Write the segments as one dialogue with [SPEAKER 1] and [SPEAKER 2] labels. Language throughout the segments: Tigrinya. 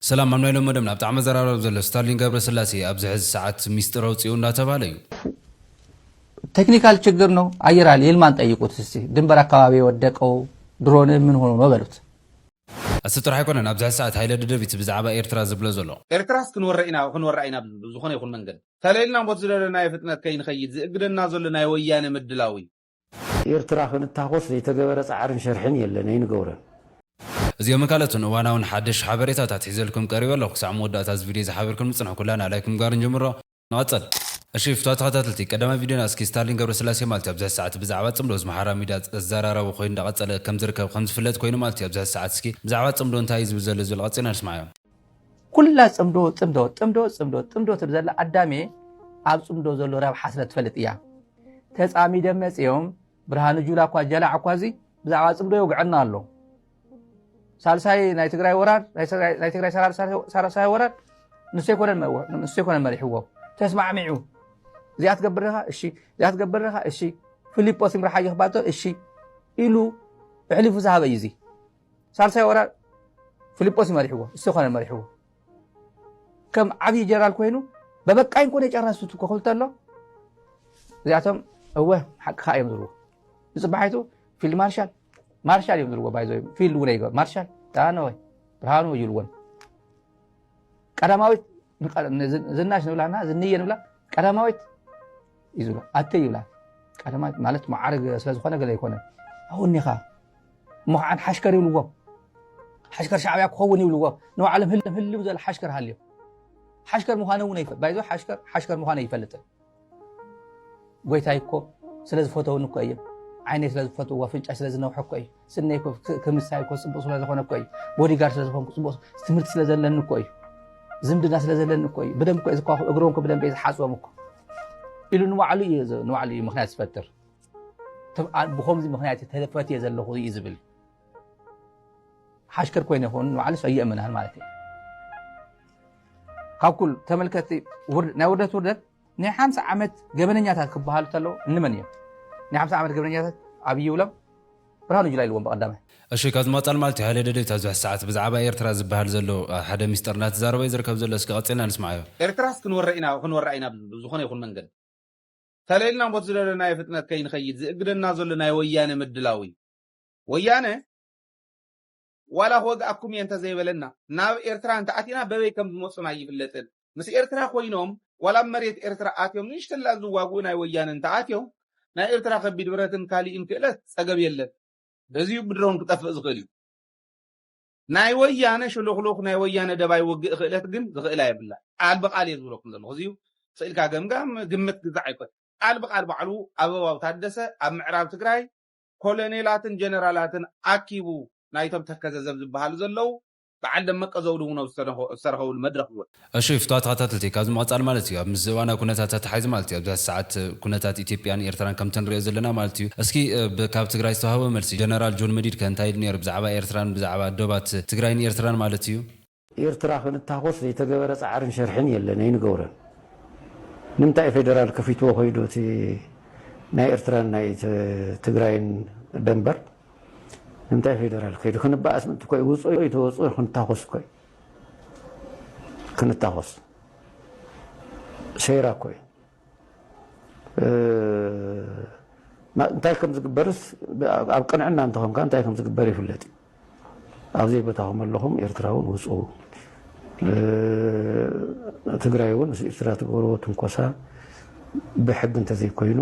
[SPEAKER 1] ሰላም ኣብ ናይ ሎሚ መደብና ብጣዕሚ ኣዘራራቢ ዘሎ ስታርሊን ገብረስላሴ ኣብዚ ሕዚ ሰዓት ሚስጥር ኣውጺኡ እንዳተባህለ እዩ።
[SPEAKER 2] ቴክኒካል ችግር ነው አየር ኃይል ይልማን ጠይቁት እስቲ ድንበር አካባቢ የወደቀው ድሮን ምን ሆኖ ነው በሉት። እሱ ጥራሕ
[SPEAKER 1] ኣይኮነን ኣብዚ ሕዚ ሰዓት ሃይለ ደደቢት ብዛዕባ ኤርትራ ዝብሎ ዘሎ ኤርትራስ ክንወረ ኢና
[SPEAKER 3] ክንወረ ኢና ብዝኾነ ይኹን መንገድ ተለልና ሞት ዝደለናዮ ፍጥነት ከይንኸይድ ዝእግደና ዘሎ ናይ ወያነ ምድላው እዩ። ኤርትራ
[SPEAKER 4] ክንታኾስ ዘይተገበረ ጻዕርን ሸርሕን የለን ኣይንገብሮን። እዚኦምን
[SPEAKER 1] ካልኦትን እዋናውን ሓድሽ ሓበሬታታት ሒዘልኩም ቀሪበ ኣለኹ ክሳዕ መወዳእታ እዚ ቪድዮ ዝሓበርክን ምጽንሑ ኩላና ላይክ ምግባር ንጀምሮ ንቐጽል እሺ ፍትዋት ተኸታተልቲ ቀዳማይ ቪድዮና እስኪ ስታሊን ገብረስላሴ ማልት ኣብዚ ሕዚ ሰዓት ብዛዕባ ጽምዶ እዚ ማሓራ ሚድያ ኣዛራራቢ ኮይኑ እንዳቐጸለ ከም ዝርከብ ከም ዝፍለጥ ኮይኑ ማልት ኣብዚ ሕዚ ሰዓት እስኪ ብዛዕባ ጽምዶ እንታይ እዩ ዝብል ዘሎ ዝብል ቐጺልና ንስማዓዮ። ኩላ
[SPEAKER 2] ፅምዶ ፅምዶ ፅምዶ ፅምዶ ፅምዶ ትብል ዘላ ኣዳሜ ኣብ ፅምዶ ዘሎ ረብሓ ስለ ትፈልጥ እያ ተፃሚደም መፅኦም ብርሃኑ ጁላ እኳ ጀላዕ እኳ እዚ ብዛዕባ ፅምዶ ይውግዐና ኣሎ ሳልሳይ ናይ ትግራይ ወራር ናይ ትግራይ ሳልሳይ ወራር ንሱ ኣይኮነን መሪሕዎ ተስማዕሚዑ እዚኣ ትገብር ኻ እሺ እዚኣ ትገብር ኻ እሺ ፊሊጶስ ይምርሓ ይኽባቶ እሺ ኢሉ እሕሊፉ ዝሃበ እዩ እዚ ሳልሳይ ወራር ፊልጶስ እዩ መሪሕዎ እሱ ኮነ መሪሕዎ ከም ዓብዪ ጀነራል ኮይኑ በበቃኝ ኮነ ጨረሱት እኮ ክብል ተሎ እዚኣቶም እወ ሓቂ ከዓ እዮም ዝብልዎ ንፅባሒቱ ፊልድ ማርሻል ማርሻል እዮም ዝብልዎ ባይዞ ፊልድ እውን ኣይገ ማርሻል ዳነወይ ብርሃኑ ይብልዎን ቀዳማዊት ዝናሽ ንብላና ዝንየ ንብላ ቀዳማዊት እዩ ዝብላ ኣተይ ይብላ ቀዳማይ ማለት መዓርግ ስለ ዝኾነ ገለ ኣይኮነ ኣወኒኻ እሞ ከዓ ሓሽከር ይብልዎ ሓሽከር ሻዕብያ ክኸውን ይብልዎ ንባዕሎም ህልም ህልም ዝበለ ሓሽከር ሃልዮ ሓሽከር ምዃነ እውን ኣይፈ ባይዞ ሓሽከር ሓሽከር ምዃነ ኣይፈልጥን ጎይታይ እኮ ስለ ዝፈተውኒ እኮ እዮም ዓይነይ ስለ ዝፈትዎ ኣፍንጫይ ስለ ዝነውሐ እኮ እዩ ስነይ እኮ ክምሳይ እኮ ፅቡቅ ስለዝኾነ እኮ እዩ ቦዲጋርድ ስለዝኾንኩ ፅቡቅ ትምህርቲ ስለዘለኒ እኮ እዩ ዝምድና ስለዘለኒ እኮ እዩ ብደንብ እኮ እዩ ዝኳኹ እግሮም እኮ ብደንብ እዩ ዝሓፅቦም እኮ ኢሉ ንባዕሉ እዩ ንባዕሉ እዩ ምክንያት ዝፈጥር ብከምዚ ምክንያት ተፈትየ ዘለኹ እዩ ዝብል ሓሽከር ኮይነ ይኸውን ንባዕሉ ሰየእምናን ማለት እዩ ካብ ኩሉ ተመልከቲ ናይ ውርደት ውርደት ናይ ሓምሳ ዓመት ገበነኛታት ክበሃሉ ተለው እንመን እዮም ናይ ሓምሳ ዓመት ገበነኛታት ኣብይ ይብሎም ብርሃኑ ጁላ ኢልዎም ብቀዳማይ። እሺ ካብዚ ምቅጻል
[SPEAKER 1] ማለት እዩ ሃይለ ደደቢት ኣብዚ ሕዚ ሰዓት ብዛዓባ ኤርትራ ዝብሃል ዘሎ ሓደ ሚስጥር እናተዛረበ እዩ ዝርከብ ዘሎ እስኪ ቀጺልና ንስምዓዮ። ኤርትራስ ክንወራ ኢና
[SPEAKER 3] ክንወራ ኢና ብዝኾነ ይኹን መንገዲ ተለልና ቦቲ ዝደለናዮ ፍጥነት ከይንኸይድ ዝእግደና ዘሎ ናይ ወያነ ምድላው እዩ ወያነ ዋላ ክወግኣኩም'የ እንተዘይበለና፣ ናብ ኤርትራ እንተኣቲና በበይ ከም ዝመጹን ኣይፍለጥን። ምስ ኤርትራ ኮይኖም ዋላ ኣብ መሬት ኤርትራ ኣትዮም ንእሽተላ ዝዋግኡ ናይ ወያነ እንተኣትዮም፣ ናይ ኤርትራ ከቢድ ብረትን ካሊእን ክእለት ጸገብ የለን። በዚ'ዩ ብድሮን ክጠፍእ ዝኽእል እዩ። ናይ ወያነ ሽሉኽሉኽ፣ ናይ ወያነ ደባይ ውግእ ክእለት ግን ዝኽእላ የብላን። ቃል ብቃል እየ ዝብለኩም ዘለኹ። እዚ'ዩ ስኢልካ ገምጋም፣ ግምት ግዛዕ ኣይኮነን። ቃል ብቃል ባዕሉ ኣበባው ታደሰ ኣብ ምዕራብ ትግራይ፣ ኮሎኔላትን ጀነራላትን ኣኪቡ ናይቶም ተከዘ ዘብ ዝበሃሉ ዘለዉ በዓል ደመቀ ዘውዱ እውን ኣብ ዝተረኸብሉ መድረኽ ዝወፀ እሺ ፍትዋት
[SPEAKER 1] ተኸታተልቲ ካብዚ ምቕፃል ማለት እዩ ኣብ ምስዚ እዋናዊ ኩነታት ኣተሓሒዙ ማለት እዩ ኣብዚ ሰዓት ኩነታት ኢትዮጵያን ኤርትራን ከምቲ ንሪኦ ዘለና ማለት እዩ እስኪ ብ ካብ ትግራይ ዝተውሃበ መልሲ ጀነራል ጆን መዲድ ከ እንታይ ኢሉ ነይሩ ብዛዕባ ኤርትራን ብዛዕባ ዶባት ትግራይን ኤርትራን ማለት እዩ ኤርትራ
[SPEAKER 4] ክንታኾስ ዘይተገበረ ጻዕርን ሸርሕን የለን ኣይንገብሮን ንምንታይ ፌደራል ከፊትዎ ኮይዱ እቲ ናይ ኤርትራን ናይ ትግራይን ደንበር ንምንታይ ፌደራል ከይዱ ክንባኣስ ምእንቲ ኮይ ውጹ ይተወጹ ክንታኾስ ኮይ ክንታኾስ ሰይራ ኮይ እንታይ ከም ዝግበርስ ኣብ ቅንዕና እንተኾንካ እንታይ ከም ዝግበር ይፍለጥ እዩ። ኣብ ዘይቦታኹም ኣለኹም ኤርትራውን ውፁ ትግራይ እውን ምስ ኤርትራ ትገብርዎ ትንኮሳ ብሕጊ እንተዘይኮይኑ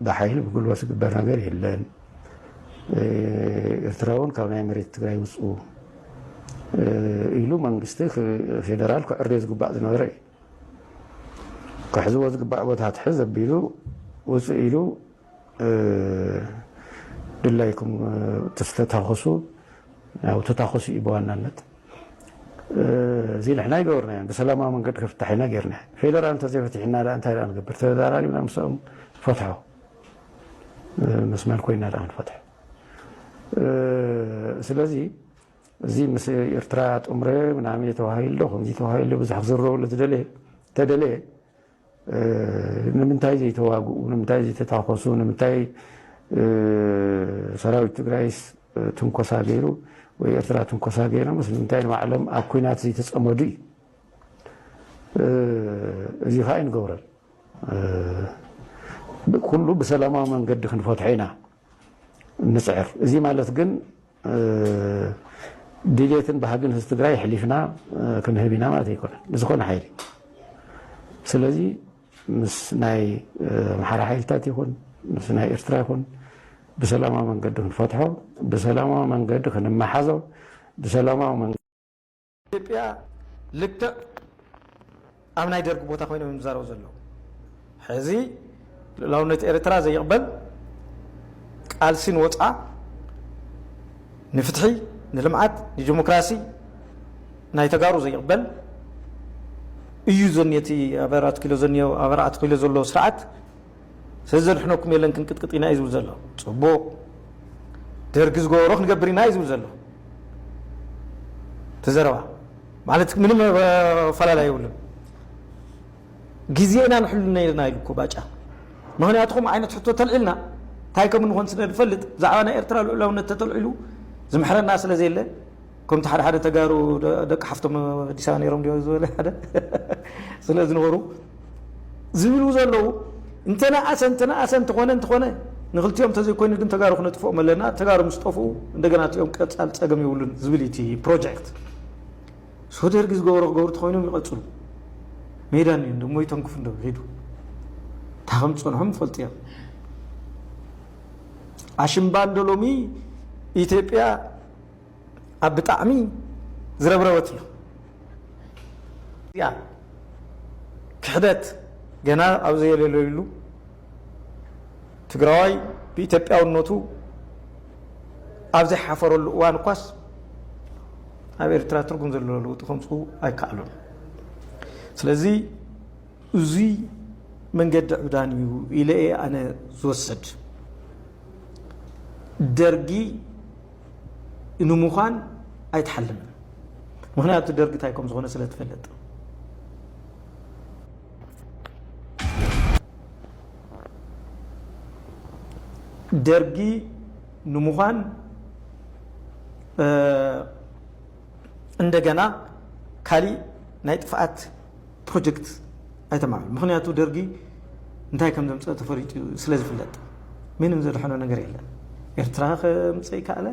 [SPEAKER 4] ብሓይሊ ብጉልበት ዝግበር ነገር የለን። ኤርትራ እውን ካብ ናይ መሬት ትግራይ ውፁ ኢሉ መንግስቲ ፌደራል ክዕርዮ ዝግባእ ዝነበረ እዩ። ክሕዝዎ ዝግባእ ቦታ ትሕዝ ኣቢሉ ውፅእ ኢሉ ድላይኩም ተተኩሱ ያው ተታኩሱ እዩ ብዋናነት እዚ ንሕና ይገበርናዮ ብሰላማዊ መንገዲ ክፍታሕ ኢና ጌርና ፌደራል እንተዘይፈቲሕና ዳ እንታይ ዳ ንገብር ተዘራሪብና ምስኦም ፈትሖ መስመር ኮይና ዳ ክንፈትሖ ስለዚ እዚ ምስ ኤርትራ ጥምረ ምናምየ ተባሂሉ ዶ ከምዚ ተባሂሉ ዶ ብዙሕ ክዝረበሉ ዝደለየ ተደለየ ንምንታይ ዘይተዋግኡ ንምንታይ ዘይተታኮሱ ንምንታይ ሰራዊት ትግራይስ ትንኮሳ ገይሩ ወይ ኤርትራ ትንኮሳ ገይሮምስ ንምንታይ ንባዕሎም ኣብ ኩናት ዘይተፀመዱ እዩ እዚ ከዓ ኣይንገብረን ኩሉ ብሰላማዊ መንገዲ ክንፈትሖ ኢና ንፅዕር። እዙይ ማለት ግን ድሌትን ባህግን ህዝቢ ትግራይ ኣሕሊፍና ክንህብ ኢና ማለት ኣይኮነን ንዝኾነ ሓይሊ። ስለዚ ምስ ናይ ኣምሓራ ሓይልታት ይኹን ምስ ናይ ኤርትራ ይኹን ብሰላማዊ መንገዲ ክንፈትሖ፣ ብሰላማዊ መንገዲ ክንመሓዞ፣ ብሰላማዊ ኢትዮጵያ
[SPEAKER 5] ልክዕ ኣብ ናይ ደርጊ ቦታ ኮይኖም እዮም ዝዛረቡ ዘለዉ። ሕዚ ልኡላውነት ኤርትራ ዘይቕበል ቃልሲ ንወፅዓ ንፍትሒ ንልምዓት ንዲሞክራሲ ናይ ተጋሩ ዘይቕበል እዩ ዘኒ እቲ ኣብ ኣራት ኪሎ ዘኒዮ ኣብ ኣርዓት ኪሎ ዘሎ ስርዓት ሰዘድሕነኩም የለን ክንቅጥቅጥ ኢና እዩ ዝብል ዘሎ ጽቡቅ ደርጊ ዝገበሮ ክንገብር ኢና እዩ ዝብል ዘሎ ተዘረባ ማለት ምንም ኣፈላላይ የብሉን ግዜ ኢና ንሕሉ ነርና ኢሉ እኮ ባጫ ምክንያቱ ከምኡ ዓይነት ሕቶ ተልዒልና እንታይ ከም እንኾን ስለ ንፈልጥ ብዛዕባ ናይ ኤርትራ ልዑላውነት ተተልዒሉ ዝምሕረና ስለ ዘየለ ከምቲ ሓደ ሓደ ተጋሩ ደቂ ሓፍቶም ኣዲስ ኣበባ ነይሮም ድዮ ዝበለ ሓደ ስለ ዝነበሩ ዝብሉ ዘለዉ እንተነኣሰ እንተነኣሰ እንተኾነ እንተኾነ ንክልቲኦም እንተዘይኮይኑ ግን ተጋሩ ክነጥፍኦም ኣለና ተጋሩ ምስ ጠፍኡ እንደገና እቲኦም ቀፃል ፀገም የብሉን ዝብል እቲ ፕሮጀክት ሶ ደርጊ ዝገበሮ ክገብሩ ተኮይኖም ይቐፅሉ ሜዳን እዩ ደሞ ይተንክፉ እንዶ ሂዱ እታ ከም ዝፀንሖም ይፈልጡ እዮም ኣሽምባ እንዶ ሎሚ ኢትዮጵያ ኣብ ብጣዕሚ ዝረብረበት እዩ እዚኣ ክሕደት ገና ኣብ ዘየለለዩሉ ትግራዋይ ብኢትዮጵያውነቱ ኣብ ዘይሓፈረሉ እዋን እኳስ ኣብ ኤርትራ ትርጉም ዘለዎ ለውጢ ከምፅኡ ኣይከኣሉን ስለዚ እዙይ መንገዲ ዕብዳን እዩ ኢለ እየ ኣነ ዝወስድ። ደርጊ ንምዃን ኣይትሓልምን። ምኽንያቱ ደርጊ እንታይ ከም ዝኾነ ስለ ትፈልጥ። ደርጊ ንምዃን እንደገና ካሊእ ናይ ጥፍኣት ፕሮጀክት ኣይተማል ምክንያቱ ደርጊ እንታይ ከም ዘምፀእ ተፈሪጡ ስለ ዝፍለጥ ምንም ዘድሐኖ ነገር የለን ኤርትራ ከምፅእ ይከኣለ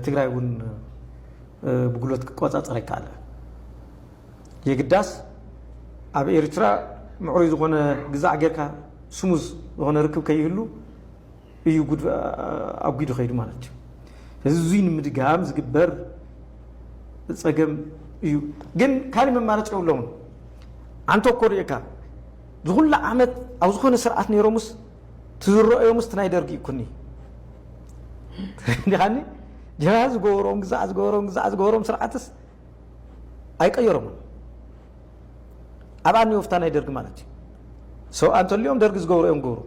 [SPEAKER 5] ትግራይ እውን ብጉሎት ክቆፃፀር ይከኣለ የግዳስ ኣብ ኤርትራ ምዕሩይ ዝኾነ ግዛዕ ጌርካ ስሙዝ ዝኾነ ርክብ ከይህሉ እዩ ጉድ ኣጒዱ ከይዱ ማለት እዩ። ስለዚ እዙይ ንምድጋም ዝግበር ፀገም እዩ። ግን ካልእ መማረፂ የብሎምን። ኣንተ እኮ ርእካ ዝኹሉ ዓመት ኣብ ዝኾነ ስርዓት ነይሮምስ ትዝረኦዮምስ ናይ ደርጊ ይኩኒ ዲኻኒ ጀና ዝገበሮም ግዛዕ ዝገበሮም ግዛዕ ዝገበሮም ስርዓትስ ኣይቀየሮምን ኣብኣ ኒወፍታ ናይ ደርጊ ማለት እዩ ሰብኣ እንተልኦም ደርጊ ዝገብሩ እዮም ገብሩ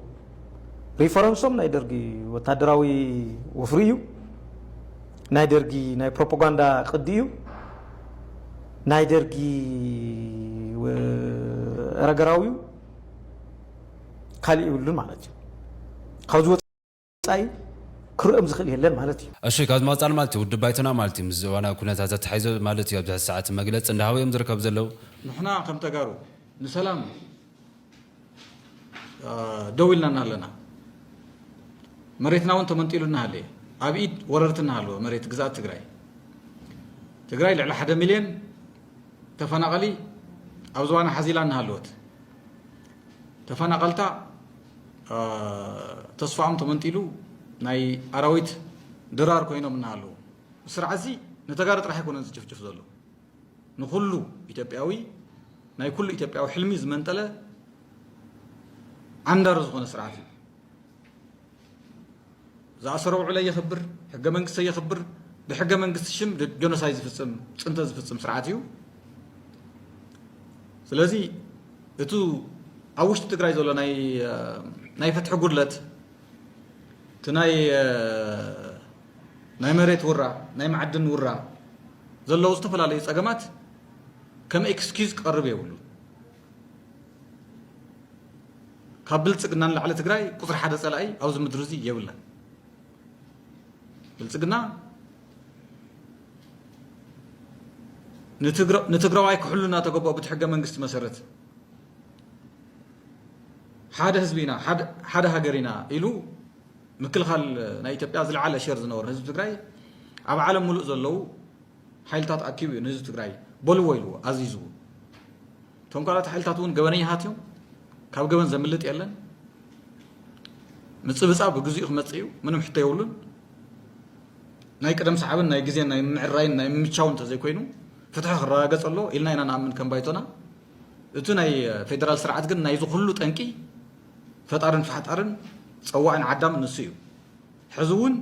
[SPEAKER 5] ሪፈረንሶም ናይ ደርጊ ወታደራዊ ወፍሪ እዩ ናይ ደርጊ ናይ ፕሮፓጋንዳ ቅዲ እዩ ናይ ደርጊ ረገራዊ እዩ ካልእ ይብሉን ማለት እዩ ካብዚ ወጻኢ ክርኦም ዝኽእል የለን ማለት እዩ። እሺ ካብዚ መቐፃሊ ማለት
[SPEAKER 1] እዩ ውድብ ባይቶና ማለት እዩ ምስዚ እዋናዊ ኩነታት ኣተሓሒዞ ማለት እዩ ኣብዚ ሐዚ ሰዓት መግለፂ እንዳሃቡ እዮም ዝርከቡ ዘለው። ንሕና ከም
[SPEAKER 6] ተጋሩ ንሰላም ደው ኢልና እናሃለና መሬትና እውን ተመንጢሉ እናሃለየ ኣብ ኢድ ወረርቲ እናሃለወ መሬት ግዝኣት ትግራይ ትግራይ ልዕሊ ሓደ ሚልዮን ተፈናቐሊ ኣብ ዝባና ሓዚላ እናሃለወት ተፈናቐልታ ተስፋኦም ተመንጢሉ ናይ ኣራዊት ድራር ኮይኖም እናሃለዉ ስርዓት እዚ ንተጋሩ ጥራሕ ኣይኮነን ዝጭፍጭፍ ዘሎ ንኩሉ ኢትዮጵያዊ ናይ ኩሉ ኢትዮጵያዊ ሕልሚ ዝመንጠለ ዓንዳሪ ዝኾነ ስርዓት እዩ ዝኣሰሮ ውዕለይ የኽብር፣ ሕገ መንግስተይ የኽብር፣ ብሕገ መንግስቲ ሽም ጆኖሳይ ዝፍፅም ፅንተት ዝፍፅም ስርዓት እዩ። ስለዚ እቱ ኣብ ውሽጢ ትግራይ ዘሎ ናይ ፍትሒ ጉድለት እቲ ናይ ናይ መሬት ውራ ናይ ማዕድን ውራ ዘለዉ ዝተፈላለዩ ፀገማት ከም ኤክስኪዝ ክቐርብ የብሉ ካብ ብልፅግና ንላዕሊ ትግራይ ቁፅሪ ሓደ ፀላኢ ኣብዚ ምድሪ እዚ የብላን። ብልፅግና ንትግራዋይ ክሕሉ እናተገበኦ ብቲ ሕገ መንግስቲ መሰረት ሓደ ህዝቢ ኢና ሓደ ሃገር ኢና ኢሉ ምክልኻል ናይ ኢትዮጵያ ዝለዓለ ሸር ዝነበሩ ህዝቢ ትግራይ ኣብ ዓለም ሙሉእ ዘለዉ ሓይልታት ኣኪቡ እዩ ንህዝቢ ትግራይ በልዎ ኢልዎ ኣዚዝዎ። እቶም ካልኦት ሓይልታት እውን ገበነኛታት እዮም፣ ካብ ገበን ዘምልጥ የለን፣ ምጽብጻብ ብግዚኡ ክመጽእ እዩ፣ ምንም ሕቶ የብሉን። ናይ ቅደም ሰዓብን ናይ ግዜን ናይ ምዕራይን ናይ ምምቻውን እንተዘይኮይኑ ፍትሒ ክረጋገጽ ኣሎ ኢልና ኢና ንኣምን ከም ባይቶና እቲ ናይ ፌደራል ስርዓት ግን ናይዚ ኩሉ ጠንቂ ፈጣርን ፋሕጣርን ጸዋዕን ዓዳምን ንሱ እዩ ሕዚ እውን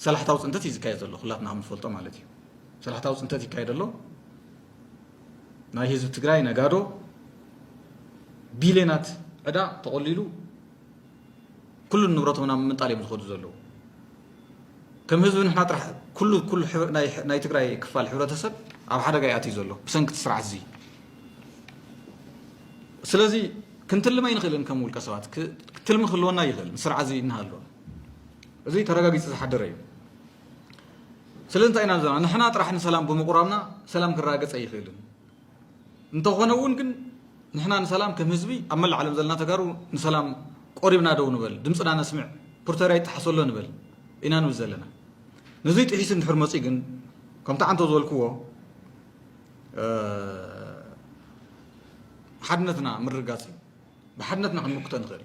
[SPEAKER 6] ሰላሕታዊ ፅንተት እዩ ዝካየድ ዘሎ ኩላትና ከምንፈልጦ ማለት እዩ ሰላሕታዊ ፅንተት ይካየድ ኣሎ ናይ ህዝቢ ትግራይ ነጋዶ ቢልዮናት ዕዳ ተቆሊሉ ኩሉ ንብረቶም ናብ ምንጣል እዮም ዝኸዱ ዘለዉ ከም ህዝቢ ንሕና ጥራሕ ኩሉ ኩሉ ናይ ትግራይ ክፋል ሕብረተሰብ ኣብ ሓደጋ ይኣትዩ ዘሎ ብሰንኪ እቲ ስርዓት እዚ ስለዚ ክንትልም ኣይንኽእልን ከም ውልቀ ሰባት ክትልሚ ክህልወና ይኽእል ስርዓት እዚ እናሃለወ እዚ ተረጋጊጹ ዝሓደረ እዩ። ስለንታይ ኢና ዘለና ንሕና ጥራሕ ንሰላም ብምቁራብና ሰላም ክረጋገጽ ኣይኽእልን እንተኾነ እውን ግን ንሕና ንሰላም ከም ህዝቢ ኣብ መላእ ዓለም ዘለና ተጋሩ ንሰላም ቆሪብና ደው ንበል ድምፅና ነስምዕ ፕሪቶሪያ ይጠሓሰሎ ንበል ኢና ንብል ዘለና ነዙይ ጥሒሱ እንድሕር መፂ ግን ከምቲ ዓንቶ ዝበልክዎ ሓድነትና ምርጋፅ እዩ ብሓድነትና ክንምክቶ ንኽእል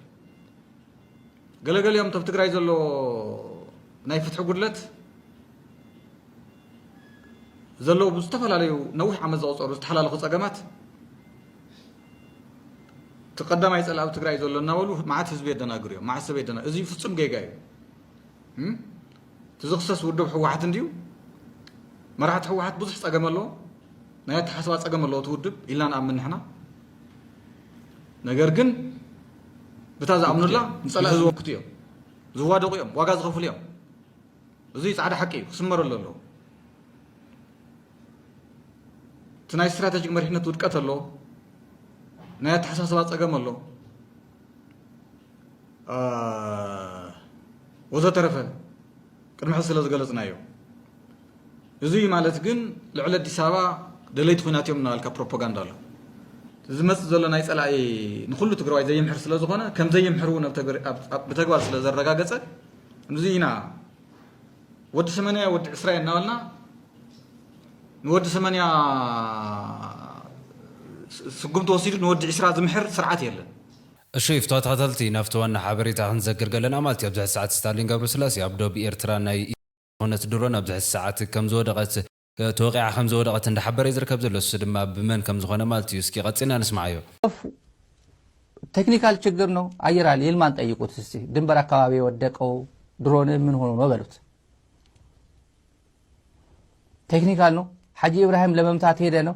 [SPEAKER 6] ገለገሊኦም ተብ ትግራይ ዘሎ ናይ ፍትሒ ጉድለት ዘለዉ ብዝተፈላለዩ ነዊሕ ዓመት ዘቑፀሩ ዝተሓላለኹ ፀገማት እቲ ቀዳማይ ፀላእብ ትግራይ ዘሎ እናበሉ መዓት ህዝቢ የደናግሩ እዮም መዓት ሰብ የደና እዚ ፍፁም ጌጋ እዩ እቲ ዝኽሰስ ውድብ ሕወሓት እንድዩ መራሕቲ ሕወሓት ብዙሕ ፀገም ኣለዎ ናይ ኣተሓስባ ፀገም ኣለዎ እቲ ውድብ ኢልና ንኣምን ንሕና ነገር ግን ብታ ዝኣምኑላ ንፀላእ ዝወክቱ እዮም ዝዋደቑ እዮም ዋጋ ዝኸፍሉ እዮም እዚ ፃዕዳ ሓቂ እዩ ክስመረሉ ኣለዎ እቲ ናይ ስትራቴጂክ መሪሕነት ውድቀት ኣሎ ናይ ኣተሓሳስባ ፀገም ኣሎ ወዘተረፈ ቅድሚ ሕዚ ስለ ዝገለጽናዮ እዙይ ማለት ግን ልዕሊ ኣዲስ ኣበባ ደለይቲ ኩናት እዮም እናበልካ ፕሮፓጋንዳ ኣሎ ዝመፅእ ዘሎ ናይ ፀላኢ ንኩሉ ትግራዋይ ዘይምሕር ስለ ዝኾነ ከም ዘይምሕር እውን ብተግባር ስለ ዘረጋገፀ እዚ ኢና ወዲ ሰመንያ ወዲ ዕስራ እናበልና ንወዲ ሰመንያ ስጉምቲ ወሲዱ ንወዲ ዕስራ ዝምሕር ስርዓት የለን እሹይ
[SPEAKER 1] ፍቶተኸተልቲ ናፍቲ ዋና ሓበሬታ ክንዘክር ገለና ማልቲ ኣብዝሐዚ ሰዓት ስታሊን ገብረስላሴ ኣብ ዶብ ኤርትራ ናይ ኢትዮ ዝኾነት ድሮን ኣብዝሐዚ ሰዓት ከምዝወደቀት ተወቂዓ ከምዝወደቀት እንዳሓበረ እዩ ዝርከብ ዘሎ እሱ ድማ ብመን ከምዝኾነ ማልቲ እዩ እስኪ ቀጺልና ንስምዓዮ። ኦፍ ቴክኒካል
[SPEAKER 2] ችግር ነው አየር ኃይል ይልማን ጠይቁት እስቲ ድንበር አካባቢ የወደቀው ድሮን ምን ሆኖ ነው በሉት። ቴክኒካል ነው ሐጂ ኢብራሂም ለመምታት ሄደ ነው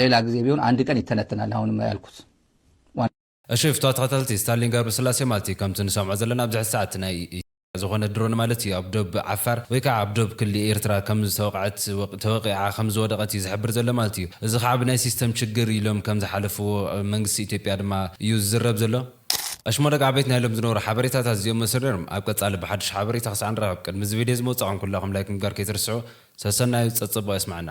[SPEAKER 2] ሌላ ጊዜ ቢሆን ኣንድ ቀን ይተነተናል ኣሁንም ያልኩት ዋና።
[SPEAKER 1] እሺ ፍትዋ ተከታተልቲ ስታሊን ገርብስላሴ ማልት ከምቲ ንሰምዖ ዘለና ኣብ ዝሕዚ ሰዓት ናይ ኢትዮ ዝኮነ ድሮን ማለት እዩ ኣብ ዶብ ዓፋር ወይ ካዓ ኣብ ዶብ ክሊ ኤርትራ ከም ዝተወቅዐት ወቅ ተወቂዓ ከም ዝወደቀት እዩ ዝሕብር ዘሎ ማለት እዩ እዚ ካዓ ብናይ ሲስተም ችግር ኢሎም ከም ዝሓለፍዎ ኣብ መንግስቲ ኢትዮጵያ ድማ እዩ ዝዝረብ ዘሎ እሽሞ ደቂ ዓበይቲ ናይ ሎም ዝነበሩ ሓበሬታታት እዚኦም መስሉ ነይሮም ኣብ ቀፃሊ ብሓዱሽ ሓበሬታ ክሳዕ ንራከብ ቅድሚ እዚ ቪድዮ እዚ ምውፃዕኩም ኩላኩም ላይክ ምግባር ከይትርስዑ ሰሰናዩ ፀፀቡቅ የስመዐና።